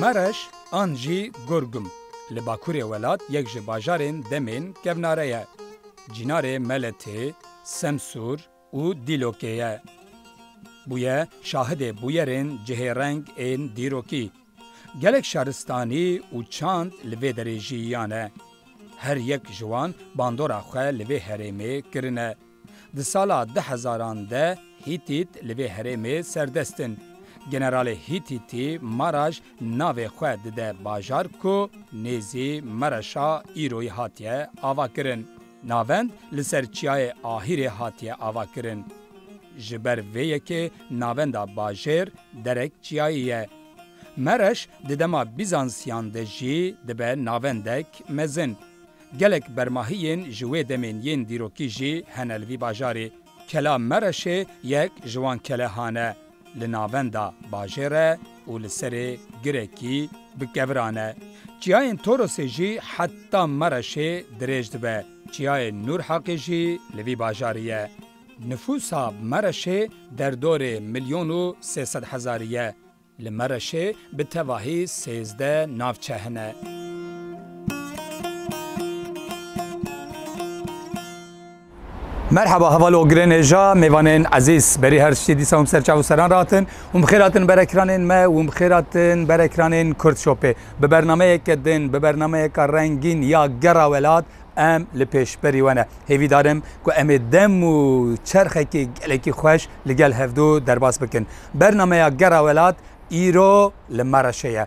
Mereş an jî Gurgum li bakurê welat yek ji bajarên demên kevnare ye. Cînarê Meletê, Semsûr, û dîlokê ye. Bûye şahidê bûyerên cihêreng ên dîrokî. Gelek şaristanî û çand li vê derê jiyîyane. Her yek ji wan bandora xwe li vê herêmê kirine. Di sala du hezaran de Hîtît li vê herêmê serdest in. Generalê Hîtîtî Maraj navê xwe dide bajar ku nêzî Mereşa îroyî hatiye avakirin. Navend li ser çiyayê Ahîrê hatiye avakirin. Ji ber vê yekê navenda bajêr derek çiyayî ye. Mereş di dema Bîzansiyan de jî dibe navendek mezin. Gelek bermahiyên ji wê demên yên dîrokî jî hene li vî bajarê. Kela Mereşê yek ji wan kelehan e. Li navenda bajêr e û li serê girekî bi keviran e. Çiyayên Torosê jî heta Mereşê dirêj dibe. Çiyayê Nûrheqê jî li vî bajarî ye. Nifûsa Mereşê derdorê milyon û sê sed hezarî ye. Li Mereşê bi tevahî sêzdeh navçe hene. Merhaba heval ogirên êja mêvanên ezîz berî her tiştê dîsa hûn ser çav û seran ratin hûn bi xêratin berekiranên me hûn bi xêratin berekiranên Kurd Shopê bi bernameyeke din bi bernameyeka rengîn ya gera welat em li pêşberî we ne hêvî darim ku em ê dem û çerxekî gelekî xweş li gel hevdu derbas bikin bernameya gera welat îro li Mereşê ye.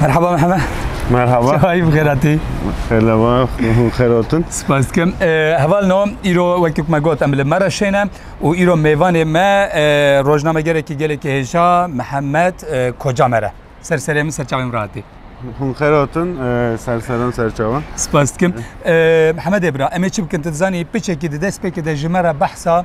Merhaba Mehmet. Merhaba. Çay bixêratî. Xêleva hûn xêrotin. Spas dikim. Heval no îro wekî me got em li me re şêne û îro mêvanê me rojnamegerekî gelekî hêja Mihemed Koca me re. Ser serê min serçavê min re hatî. Hûn xêrotin ser seran serçavan. Spas dikim. Mihemedê bira em ê çi bikin tu dizanî piçekî di destpêkê de ji me re behsa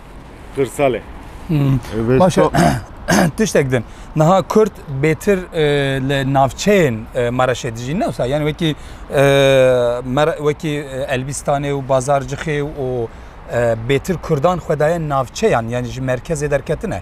Qırsalê. Baş e. Tiştek din. Niha Kurd bêtir e, li navçeyên e, Maraşê dijî ne wisa. Yani wekî e, wekî Elbîstanê û Bazarcixê û bêtir Kurdan xwedaye navçeyan yani ji merkezê derketine.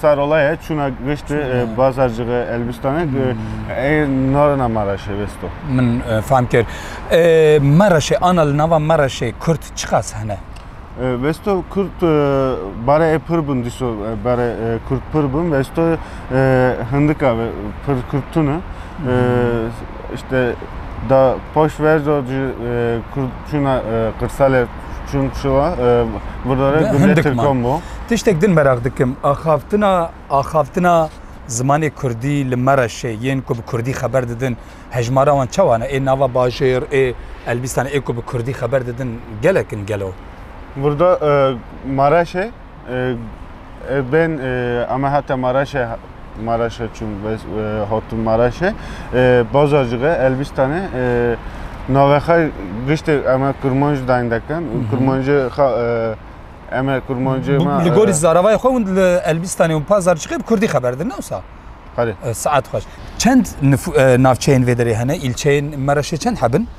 Sarolaya çûna giştê bazarcixê Elbistanê ê narina Maraşê Vesto. Min fam kir. Maraşê ana li nava Maraşê Kurd çiqas hene? Vesto Kurd bare ê pir bin dîso bare Kurd pir bin Vesto hindika ve pir Kurd tune. İşte da poş ver do Kurd çûna qirsalê Çung Çua, burdare Gundê Hindik man. Tirkan bû. Tiştek din meraq dikim. Axavtina axavtina zimanê Kurdî li Mereşê yên ku bi Kurdî xeber didin hejmara wan çawa ne? Ê nava bajêr, ê Elbîstanê ê ku bi Kurdî xeber didin gelek in gelo? Burda e, Mareşê Ben ame hate Maraşê Maraşê çûn hatûn Maraşê Bazarcığa Elbistanê navexa giştê eme kurmanc dayên dekin û kurmancê xa eme kurmancê ma Li gorî zaravayê xwe hûn li Elbistanê û Bazarcığa bi kurdî xeber din ne wisa? Saet xweş. Çend navçeyên vê derê hene? Îlçeyên Maraşê çend hebin?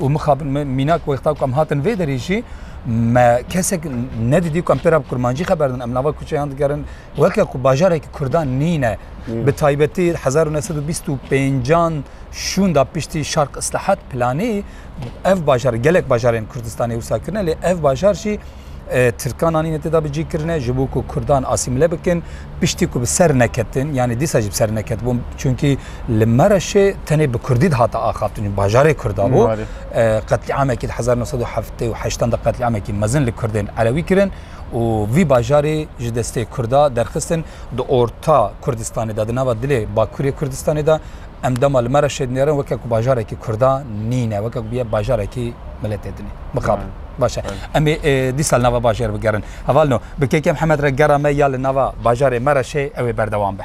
Û mixabin me mînak wexta ku em hatin vê derê jî me kesek nedidî ku em pê re bi kurmancî xeber din. Em nava kuçeyan digerin weke ku bajarekî kurdan nîne. Bi taybetî hezar û neh sed û bîst û pêncan şûnda piştî Şarq Îslahat Planê ev bajar gelek bajarên Kurdistanê wisa kirine lê ev bajar jî Tirkan anîne tê de bi cî kirine ji bo ku Kurdan asîmile bikin piştî ku bi ser neketin yanî dîsa jî bi ser neketibûn çunkî li Mereşê tenê bi Kurdî dihate axaftin bajarê Kurda bû qetlîamekî di hezar nû sed û heftê û heştan de qetlîamekî mezin li Kurdên Elewî kirin û vî bajarê ji destê Kurda derxistin di orta Kurdistanê de di nava dilê Bakurê Kurdistanê de Em dema li me re şêdinêrin weke ku bajarekî Kurda nîne, weke ku bûye bajarekî miletê din e. Mixabin. Baş e. Em ê dîsa li nava bajêr bigerin. Heval no, bi kêkê Mihemed re gera me ya li nava bajarê me re şê ew ê berdewam be.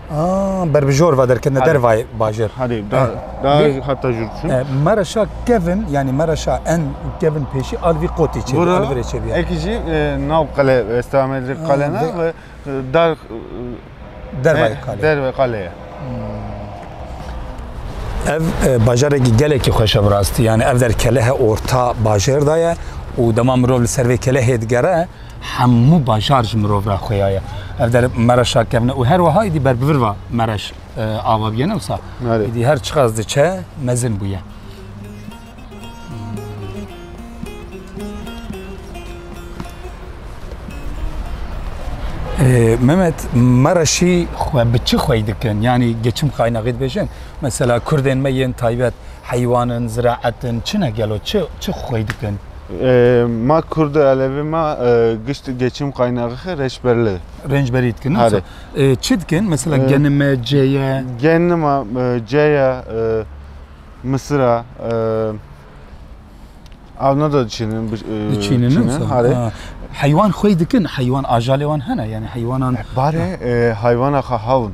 Berbijor va derketine dervayê bajêr. Hadê da da hata jûr çûn. Mereşa kevin yanî mereşa en kevin pêşî alvî qotî çê alvirê çê bîya. Ekî jî nav qele esta amedê qele na ve dar dervayê qale. Dervayê qale ye. Ev bajarekî gelekî xweş e bi rastî. Yanî ev der kelehe orta bajêr da ye û dema mirov li ser vê kelehê digere Hemû bajar ji mirov re xuya ye. Ev der mereşa kevne û her wiha êdî ber bi vir va mereş ava bûye ne wisa. Êdî her çiqas diçe mezin bûye. Mehmet mereşî xwe bi çi xwey dikin yanî geçim qaynaxê dibêjin mesela kurdên me yên taybet heywanin ziraetin çi ne gelo çi çi xwey dikin. Ma Kurd Elevê ma gişt geçim qaynaxi reçberli. Rencberî dikin. Hare. Çi dikin? Mesela genime, ceye. Genima, ceye, misira, Avna da diçînin. Diçînin. Hare. Heywan xwey dikin. Heywan ajalê wan hene. Yani heywanan. Bare heywana xwe hewin.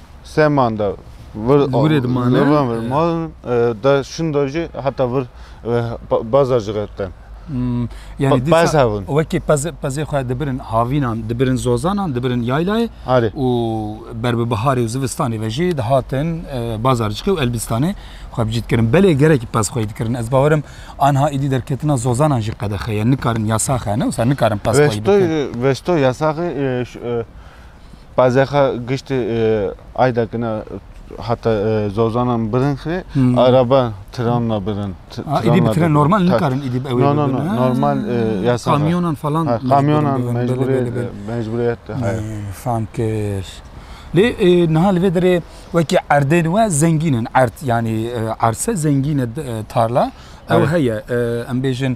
Sê manda vir Dûrê dimane. Zirvan vir malin da şinda jî heta vir baza ji xetten. Hmm, Yani Pa- dîsa pez hebûn. wekî pez, pezê xwe dibirin havînan, dibirin zozanan, dibirin yaylayê Arê. û ber bi biharê û zivistanê ve jî dihatin e, bazarcikê û elbîstanê xwe bi cî dikirin. Belê gerekî pez xweyî dikirin. Ez bawer im anha îdî derketina zozanan jî qedexe ye. Nikarin yasax e ne wisa nikarin pez xweyî Veştoy, bikin. veştoy yasaxê e, ş- e, Pazexa giştî Aydakina heta Zozanan birin xirê, araba tiranna birin. Ha îdî bi tren normal nikarin îdî bi ewê birin. No no no normal yasal e. Kamyonan falan mecbûr in birin. Kamyonan mecbûr e mecbûriyet heye. Fam kir. Lê niha li vê derê wekî erdên we zengîn in erd yanî arse zengîn e tarla ew heye em bêjin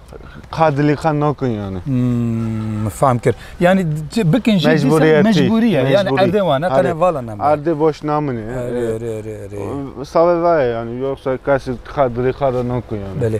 Ka dilê xwe nakin yani. Hmm, fam kir. Yani bikin jî mecburiyet. Mecburiye. Yani erdê wan, qene vala nam. Erdê boş namine. Re re re re. Save vaya yani yoksa kasi ka dilê xwe da nakin yani. Belê.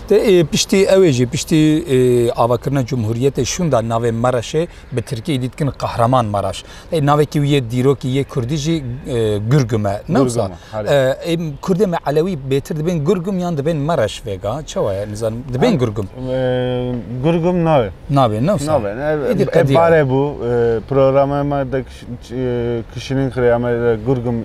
Tê piştî ewê jî piştî avakirina cumhuriyetê şûnda navê Maraşê bi tirkî îdî dikin Qahraman Maraş. Ê navekî wî yê dîrokî yê kurdî jî Gurgum e. Newsa ê kurdê me elewî bêtir dibên Gurgum yan dibên Maraş vêga çawa ye nizanim dibên Gurgum. Gurgum nabê. Nabê newsa. Nabê. Barê bû programê me de kişînîn xirê em ê Gurgum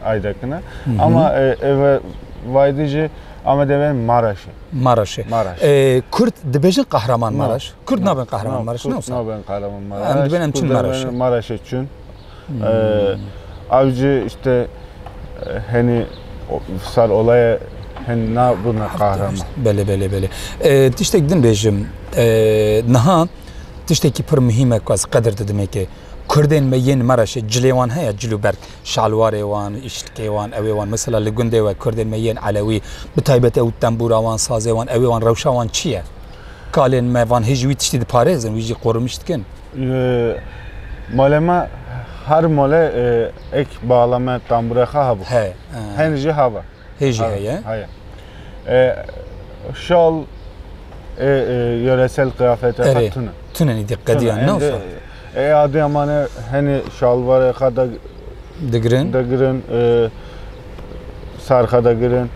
aydekine. Ama eve vaydi jî Amed eve Maraş'e. Maraş'e. Maraş. E, Kürt dibêjin kahraman Maraş. Kürt nabin kahraman Maraş. Kürt nabin kahraman Maraş. Em dibin em çün Maraş'e. Maraş'e çün. Hmm. Avcı işte hani sar olaya hani na buna kahraman. Bele bele bele. E, tiştek din bêjim. E, naha tiştekî pir muhîm e ku ez qedir didim ê ke Kurdên me yên Maraşê cilê wan heye cilûberg. şalwarê wan, îşlikê wan, ewê wan mesela li gundê we Kurdên me yên Elewî bi taybet ew tembûra wan, sazê wan, ewê wan rewşa wan çi ye? Kalên me van hêj wî tiştî diparêzin, wî jî qorimiş dikin. Malê me her malê ek bala me tembûrê xwe hebû. Heye. Hênî jî hebe. Hê jî heye. Heye. Şal ê yöresel kıyafete xwe tune. Tune nî dî qediyan ne fa. Ê adeya ma ne henê şalvarê xwe de digirin. Digirin. Serxe de girin.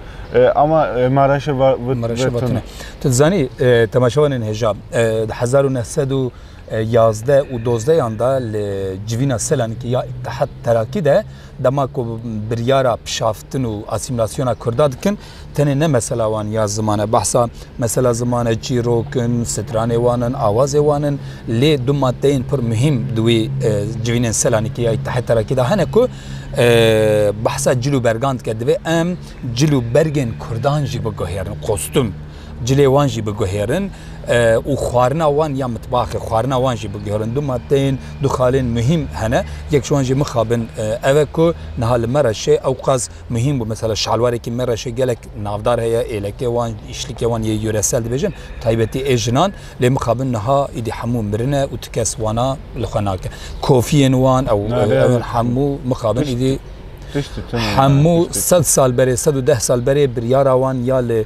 Ama Maraşê Maraşê tune. Tu dizanî temaşevanên hêja di hezar û neh sed û yazdeh û dozdehan de li civîna Selanikê ya Îttihat Terakî de dema ku biryara pişaftin û asîmîlasyona Kurda dikin tenê ne mesela wan ya ziman e behsa mesela zimane çîrok in, stranê wan in, awazê wan in lê du maddeyên pir muhîm di wê civînên Selanikê ya Îttihat Terakî de hene ku behsa cil û bergan dike divê em cil û bergên Kurdan jî biguhêrin kostûm. cilê wan jî biguhêrin û xwarina wan ya mitbaxê xwarina wan jî biguhêrin. Du maddeyên du xalên muhîm hene. Yek ji wan jî mixabin ev e ku niha li Mereşê ewqas muhîm bû. Mesela şalwarekî Mereşê gelek navdar heye, êlekê wan, îşlikê wan yê yûresel dibêjin taybetî ê jinan lê mixabin niha îdî hemû mirine û tu kes wana li xwe nake. Kofiyên wan ew ew hemû mixabin îdî hemû sed sal berê sed û deh sal berê biryara wan ya li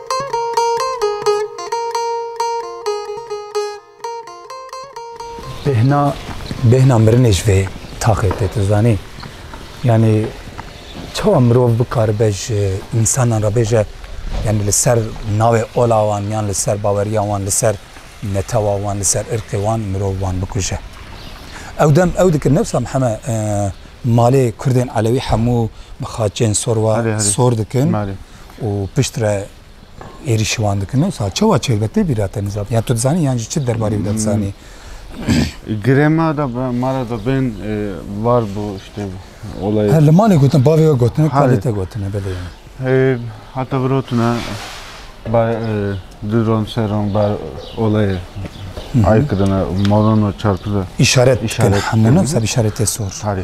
Bêhna bêhna mirinê ji vê taxê tê tu zanî yanî çawa mirov bikaribe ji însanan re bêje yanî li ser navê ola wan yan li ser baweriya wan li ser netewa wan li ser irqê wan mirov wan bikuje. Ew dem ew dikir newsa heme e, malê Kurdên Elewî hemû bi xaçên sor wa sor dikin. û piştre êrîşî wan dikin. Wisa çawa çêdibe tê bîra te nizam? Yan tu dizanî yan jî çi derbarê wî de dizanî? Girê ma da ma ra da bên var bû işte olayê. He li malê gotin bavê we gotine kadê te gotine belê. Heta birotine ba du ron se ron ba olayê ay kirine moron çarpide. İşaret. İşaret. Hemûne seb işaretê sor. Tarî.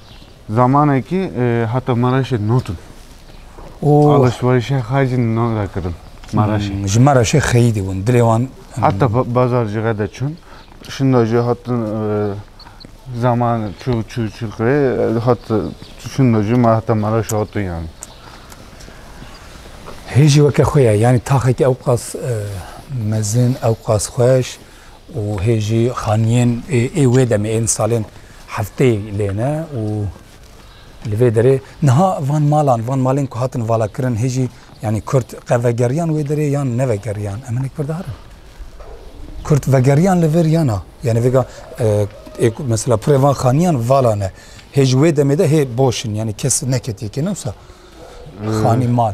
Zamanekî heta Mereşê notin. Alişwerişê xwe jî nor e kirin Mereşê. Ji Mereşê xeyî dibûn. Dilê wan Heta bazar jî re diçûn. Şinda jî hatin zaman çû çû çû kirê hat şinda jî me heta Mereşê hatin yanî. Hêjî weke xwe ye. Yanî taxekî ewqas mezin, ewqas xweş. Û hê jî xaniyên ê wê demê ên salên hefteyê lê ne û li vê derê niha van malan van malên ku hatin valakirin hê jî yanî kurd qe vegeriyan wê derê yan nevegeriyan em hinek berdar in. Kurd vegeriyan li vir yana yanî vêga mesela pirê van xaniyan vala ne hê ji wê demê de hê boş in yanî kes neketiye kê ne wisa xanî mal.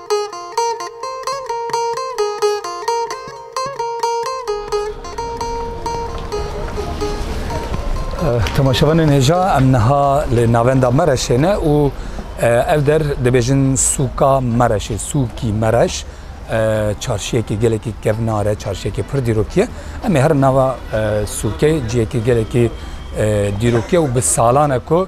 Temaşevanên hêja em niha li navenda Mereşê ne û ev der dibêjin sûka Mereşê, sûkî Mereş çarşiyekî gelekî kevnar e, çarşiyekî pir dîrokî ye. Em ê herin nava sûkê ciyekî gelekî dîrokî ye û bi salan e ku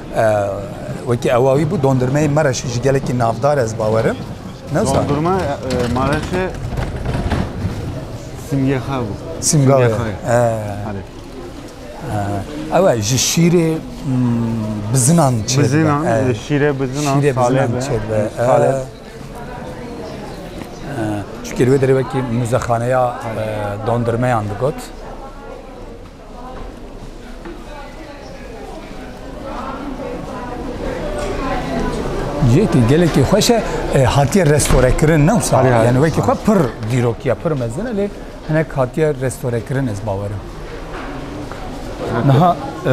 Wekî ewa wî bû dondurmeyê Mereşê ji gelekî navdar ez bawerim. Dondurma Mereşê simgexa bû. Simgexa. Ewa ji şîrê bizinan çê. Bizinan, şîrê bizinan, şîrê bizinan çê be. Çikê wê derê wekî muzexaneya dondurmeyan digot. Yekî gelekî xweş e e, hatiye restorekirin ne wisa Alî, alî, yani wekî xwe pir dîrokiya pir mezin e lê hinek hatiye restorekirin ez bawerim. Niha e,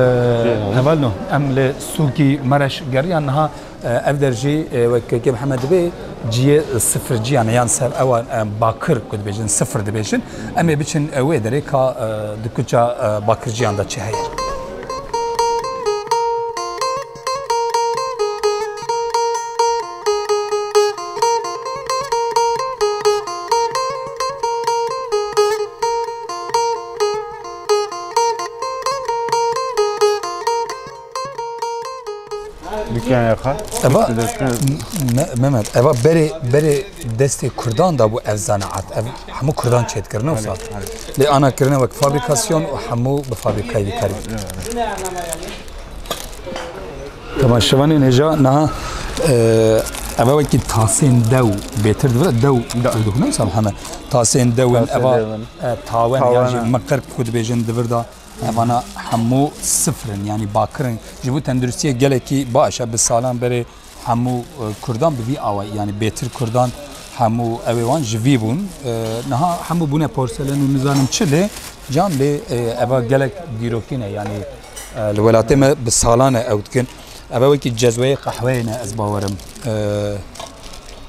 heval no em li sûkî mereş geriyan niha Ev der jî wek KK Mihemed dibê ciyê sifir ciyan e yan ser ewa bakir ku dibêjin sifir dibêjin. Em ê biçin wê derê ka di kuça bakir ciyan de çi heye. Mehmet eva berê berê destê Kurdan da bû ev zanaat ev hemû Kurdan çêdikirine wisa lê ana kirine wek fabrîkasyon û hemû bi fabrîkayê dikar Tamam şivanên hêja niha eva wekî tasên dew bêtir dibire dew dixunim sam heme tasên dewin eva tawen miqir ku dibêjin divirda Evana hemû sifr in yanî bakir in. Ji bo tenduristiyê gelekî baş e. Bi salan berê hemû kurdan bi vî awayî yanî bêtir kurdan hemû evê wan ji vî bûn. Niha hemû bûne porselen û nizanim çi lê can lê eva gelek dîrokî ne yanî li welatê me bi salan e ew dikin. Eva wekî cezweyê qehweyê ne ez bawerim.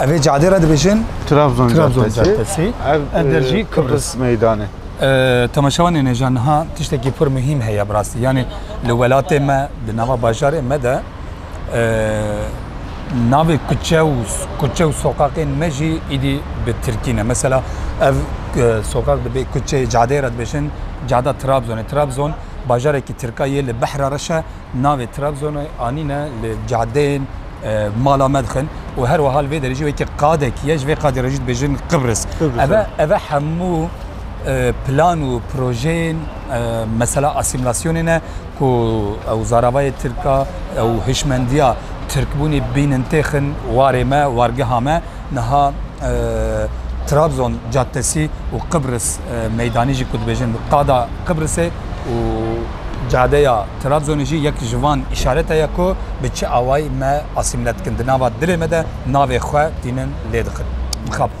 Ev ê cadê re dibêjin Trabzon Trabzon Caddesi. Caddesi. Ev Ev der jî e, Kıbrıs. Kıbrıs meydanı. Ee, Temaşewa nêneja niha tiştekî pir muhîm heye bi rastî. Yanî li welatê me di nava bajarê me de ee, navê kuçe û kuçe û soqaqên me jî îdî bi tirkî ne. Mesela ev e, soqaq dibê kuçeyê cadeyê re dibêjin cada Trabzonê. Trabzon bajarekî tirka yê li behra reşe Navê Trabzonê anîne li cadeyên mala me dixin û her wiha li vê derê jî weke qadekî ye, ji vê qadê re jî dibêjin Qibris. Ev e ev e hemû plan û projeyên mesela asîmîlasyonê ne ku ew zaravayê tirk a, ew hişmendiya tirkbûnê bînin têxin warê me, wargeha me. Niha Trabzon Caddesi û Qibris Meydanî jî ku dibêjin Qada Qibrisê û Cadeya Trabzonê jî yek ji van îşarete ye ku bi çi awayî me asîmle dikin, di nava dilê me de navê xwe tînin lê dixin. Mixabin.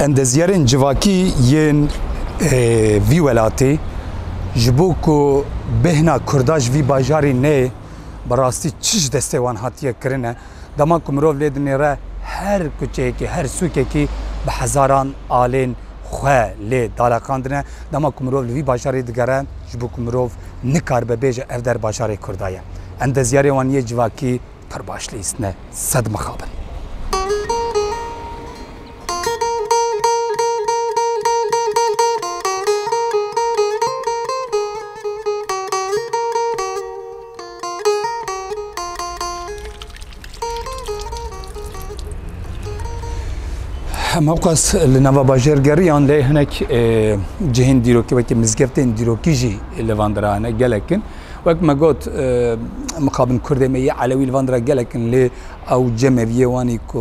Endezyarên civakî yên vî welatê ji bo ku bêhna Kurda ji vî bajarî neyê bi rastî çi ji destê wan hatiye kirin e. Dema ku mirov lê dinêre her kuçeyekî, her sûkekî bi hezaran alên xwe lê daleqandine. Dema ku mirov li vî bajarî digere ji bo ku mirov nikaribe bêje ev der bajarê Kurda ye. Endezyarê wan yê civakî Pir baş lîst ne sed mixabin. Hemewqas li nava bajêr geriyan lê hinek cihên dîrokî wekî mizgeftên dîrokî jî li van dira hene gelekin. Wek me got, mixabin Kurdê me yê Elewî li van dira gelek in lê ew cem meviyê wan î ku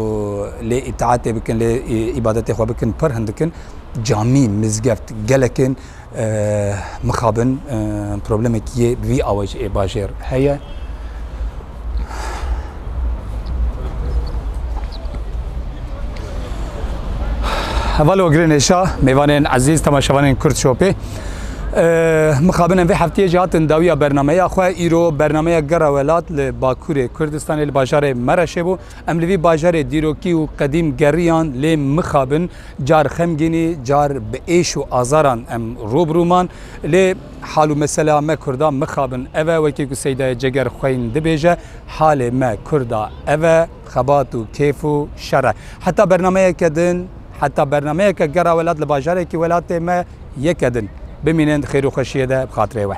lê îtaetê bikin, lê îbadetê xwe bikin pir hindik in. Camî, mizgeft gelek ên mixabin problemekî yê bi vî awayîş ê bajêr heye. Hevalo girên êşa mêvanên ezîz temaşevanên Kurd Şopê. Mixabinin vê heftiyê jî hatin dawiya bernameya xwe îro bernameya gera welat li Bakurê Kurdistanê li bajarê Mereşê bû. Em li vî bajarê dîrokî û qedîm geriyan lê mixabin Car xemgînî, car bi êş û azaran em rû bi rû man. Lê hal û meselea me Kurdan mixabin ev e, wekî ku Seydayê Ceger xweyn dibêje, halê me Kurda ev e, xebat û kêf û şer e. Heta bernameyeke din, heta bernameyeke Gera Welat li bajarekî welatê me yeke din. Bimînin di xêr û xweşiyê de bi xatirê we.